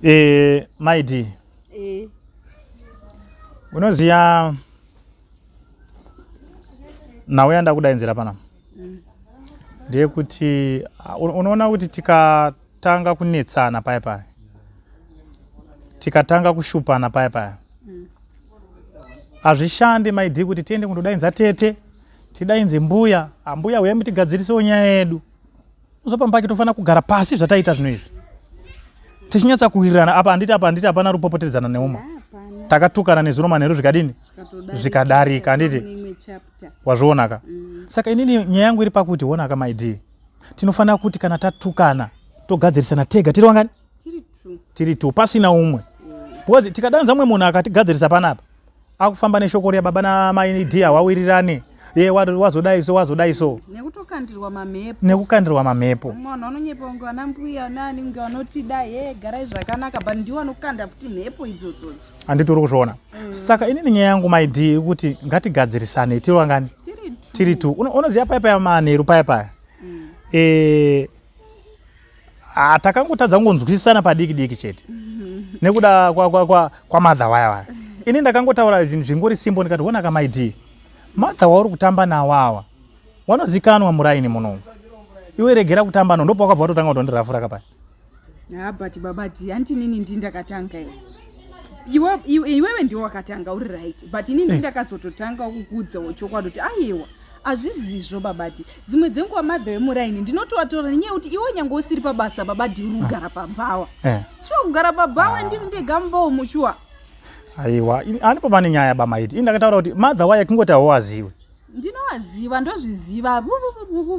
Eh, maidi. Eh. Unoziya nhau yandakudainzira pana. Mm. Ndiye kuti uh, unoona kuti tikatanga kunetsana paya paya. Tikatanga kushupana paya paya. Mm. Hazvishande maidi kuti tiende kundodainza tete, tidainze mbuya, ambuya ah, uye mutigadzirisewo nyaya yedu. uzopamba ke tofanira kugara pasi zvataita zvino izvi tichinyatsa kuwirirana apa handiti apa handiti hapana rupopotedzana neuma takatukana nezuro manheru zvikadini zvikadarika handiti wazvionaka mm. saka inini nyaya yangu iri pakuti honaka maidii tinofanira kuti kana tatukana togadzirisana tega tiri wangani tiri two pasina umwe because tikadanza umwe munhu akatigadzirisa panapa akufamba neshoko riya baba namai dia wawirirane ye wazodai so wazodai so nekutokandirwa mamhepo nekukandirwa mamhepo munhu anonyepa kunge vana mbuya nani kunge vanotida ye garai zvakanaka but ndiwo anokanda futi mhepo idzodzodzo handiti uri kuzviona mm. saka inini nyaya yangu maidi ikuti ngatigadzirisane tiri wangani tiri two unoziva paya paya manheru paya paya mm. eh, Ah, takangotadza kungonzwisisana padiki diki chete nekuda kwamadha waya waya ini ndakangotaura zvinhu zvingori simbo ndikati wona kamaidii madha wauri kutamba nawo awa wanozikanwa muraini munomu iwe regera kutamba no ndopa wakabva watotanga kutondirafura kapaya ha but baba ti hanti inini ndi ndakatanga here iwewe ndiwe wakatanga uri right but inini eh. ndakazototanga kukuudzawo chokwadi kuti aiwa hazvizizvo babadi dzimwe dzenguva madho emuraini ndinotovatora nenyaya yekuti iwe nyange usiri pabasa babadi uri kugara pabhawa eh. shuwa kugara pabhawa ndini ndega mumbawo mushuwa aiwa ani pava nenyaya bamaiti ini ndakataura kuti madha waye kungoti hauwaziwe ndinowaziva ndozviziva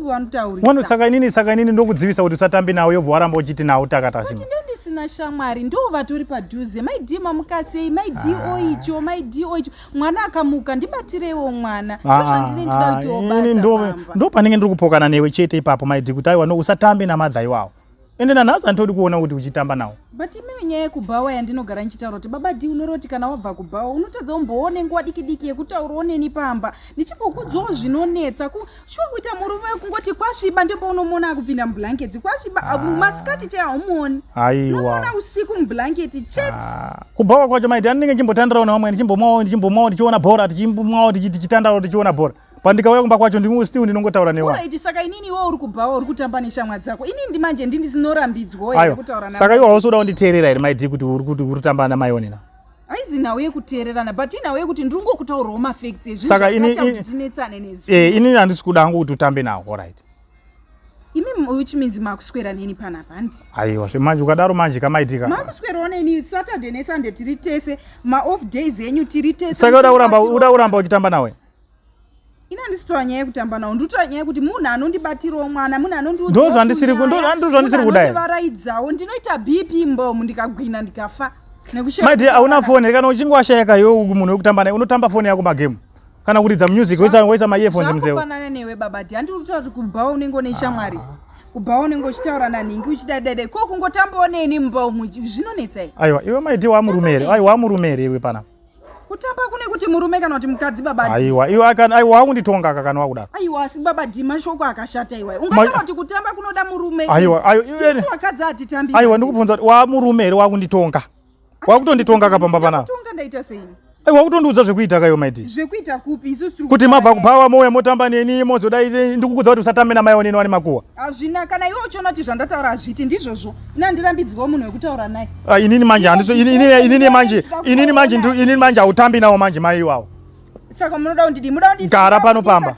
vanotaurisa inini saka inini ndokudzivisa kuti usatambi nawo yobva waramba uchiti nawo takatasima ndisina shamwari ndo vatori padhuze maidii mamukasei maidii ah. oicho maidii oicho mwana akamuka ndibatireiwo mwana ah, ndozvandine ndida ah, kuitiwo basa ndo panenge ndiri kupokana newe chete ipapo maidi kuti aiwa no usatambe namadha iwawo ende nanhasi anditodi kuona kuti uchitamba nawo but imimi nyaya yekubhawa yandinogara ndichitaura kuti baba di unoroti kana wabva kubhawa unotadza umboone nguva diki diki yekutaurawo neni pamba ndichimbokudzwawo zvinonetsa shuwa kuita murume wekungoti kwasviba ndipo unomuona akupinda mublanketi kwasviba ah. masikati chai haumuoni aiwaona usiku mublanketi chet ah. kubhawa kwacho maiti andinenge ndichimbotandirawo nevamwe ndichimbomwawo ndichimbomwawo ndichiona bhora tichimwawo tichitandawo tichiona bhora pandikauya kumba kwacho ndimwe still ndinongotaura newa right saka inini iwe uri kubhawa uri kutamba neshamwa dzako inini ndimanje ndini ndinorambidzwa here kutaura nayo saka iwe hausi kuda kunditeerera here maiti kuti uri kutamba namaionina haizi nhau yekuteererana but inhau yekuti ndiri ngokutaurawo mafacts ezvizvakatakuti tinetsane nezuva eh, inini handisi kuda hangu kuti utambe nawo orit imi which means makuswera neni panapa handi aiwa zve manje ukadaro manje kamaitika makuswerawo neni saturday nesunday tiri tese maoff days enyu tiri tese saka uda kuramba uchitamba nawe ina handisi kutaura nyaya yekutamba nawo ndiri kutaura nyaya yekuti munhu anondibatirawo mwana munhu anondiudzandisiri kudaiaraidzawo ndinoita bp mbomu ndikagwina ndikafa maidi hauna foni here kana uchinge washayika yo munhu wekutamba naye unotamba foni yako magemu kana kuridza music woisa maearphones mzeofanana newe baba ti handiri kutaura kuti kubhawa unenge une shamwari kubhawa unenge uchitaura nanhingi uchidaidada ko kungotambawo neni mbomu zvinonetsa aiwa iwe maidi wamurume here aiwa wamurume here iwe panapa kutamba kune kuti murume kana kuti mukadzi baba aiwa iwe akana aiwa akunditonga akana wakudaro aiwa asi baba dima shoko akashata iwa ungataura kuti kutamba kunoda murume aiwa aiwa iwe wakadzi atitambi aiwa ndikubvunza kuti wa murume here wakunditonga wakutonditonga kapamba pana tonga ndaita sei aiwa kutondiudza zvekuita kayo maiti zvekuita kupi isu kuti mabva kubhawa mouya motamba neni mozodai ndikukudza kuti usatambe namai oneni wani makuwa hazvina kana iwe uchiona kuti zvandataura hazviti ndizvozvo ini handirambidzwawo munhu wekutaura naye ah, inini manje inini manje inini manje inini manje hautambi nawo manje mai iwawo saka munoda kundidii muda kundidara pano pamba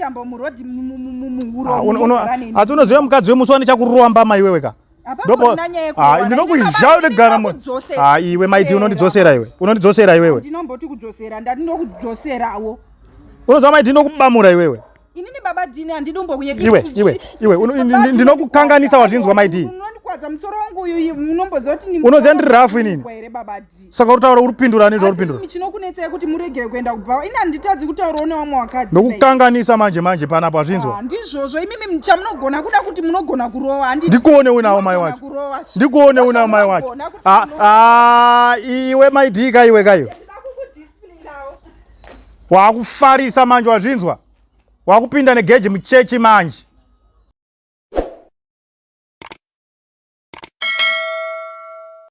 asi unoziva mukadzi wemusi wane chakurowa mbama iwewe ka ndinokuzhaya unogara ah, iwe maiti unondidzosera iwe unondidzosera iwewe unoziva maiti ndinokubamura iwewe inini baba dini handidi umbokuye iwe iwe iwe ndinokukanganisa wazvinzwa maidi kwadza musoro wangu uyu munomboziva kuti unoziva ndiri rafu inini here baba d saka uri taura uri kupindura nezva uri pindura chinokunetsai kuti muregere kuenda kubhawa ini handitadzi kutaurawo nevamwe wakadzi nokukanganisa manje manje panapa zvinzwa ah, ndizvozvo imimi chamunogona kuda kuti munogona kurowa ndikuone unawo mai wacho ndikuone unawo mai wacho ah, ah, iwe maidii kaiwe kaiwe Wakufarisa manje wazvinzwa? Wakupinda negeji muchechi manje.